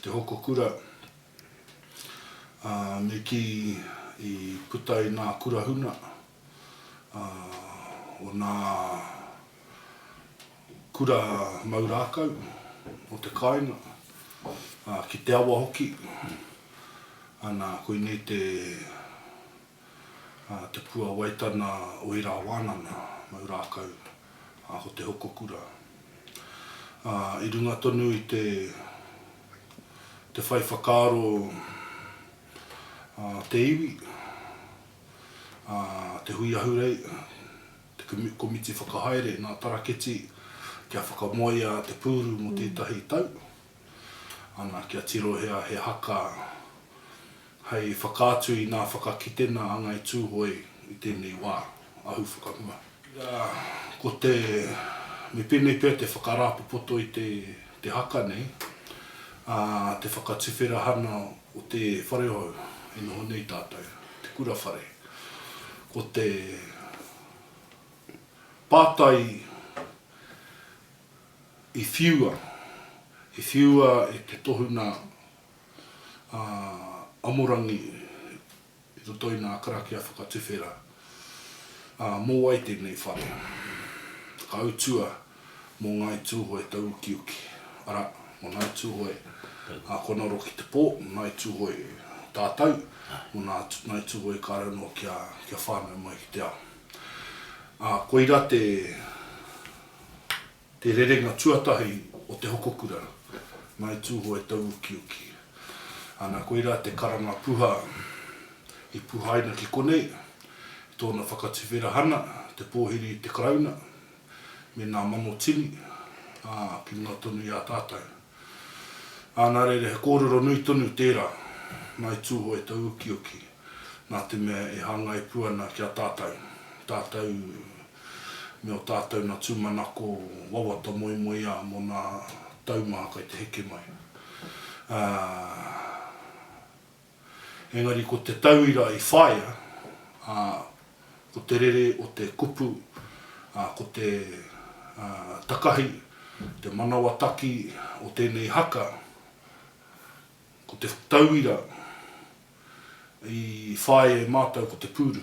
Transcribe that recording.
Te hoko kura, ā, me kī i puta i nā kura huna, ā, o nā kura mau rākau, o te kāinga, ā, ki te awa hoki, ana, koinei te. Te Puawaitana o ērā wānanga mau rākau, ko Te Hokokura. I runga tonu i te te whai whakaaro te iwi, te hui ahurei, te komiti whakahaere nā Taraketi kia whakamoea te pūru mō tētahi tau, ana, kia tirohia he haka Hei whakaatu i nā whakakitenga a Ngāi Tūhoe i tēnei wā, ahu whakamua. Ira, ko te, me pēnei pea te whakarāpopoto i te haka nei, ā, te whakatuwherahana o te wharehou e noho nei tātou, te kura whare. Ko te pātai i whiua, i whiua e te tohunga a Amorangi i roto i nā karakia whakatuwhera, ā, mō wai tēnei whare? Whakautua mō Ngāi Tūhoe tau ukiuki, arā, mō Ngāi Tūhoe a Konaro ki te pō, mō Ngāi Tūhoe tātau, mō Ngāi Tūhoe kāre anō kia whānau mai ki te ao. Ā, koirā te. Te rerenga tuatahi o te hoko kura, Ngāi Tūhoe tauukiuki. Ana, koirā te karanga puha i puhaina ki konei, i tōna whakatuwherahana, te pōhiri i te Karauna, me nā mano tini, ā, ki runga tonu i a tātou. Ā, nā reira he kōrero nui tonu tērā, Ngāi Tūhoe tauukiuki, nā te mea e hāngai pū ana ki a tātou, tātou me o tātou na tūmanako wawata moemoeā mo nā tau mā kai te heke mai. Ā, engari ko te tauira i whaia, ā, ko te rere o te kupu, ā, ko te, ā, takahi, te manawa taki o tēnei haka, Ko te tauira i whāia e mātou ko te pūru.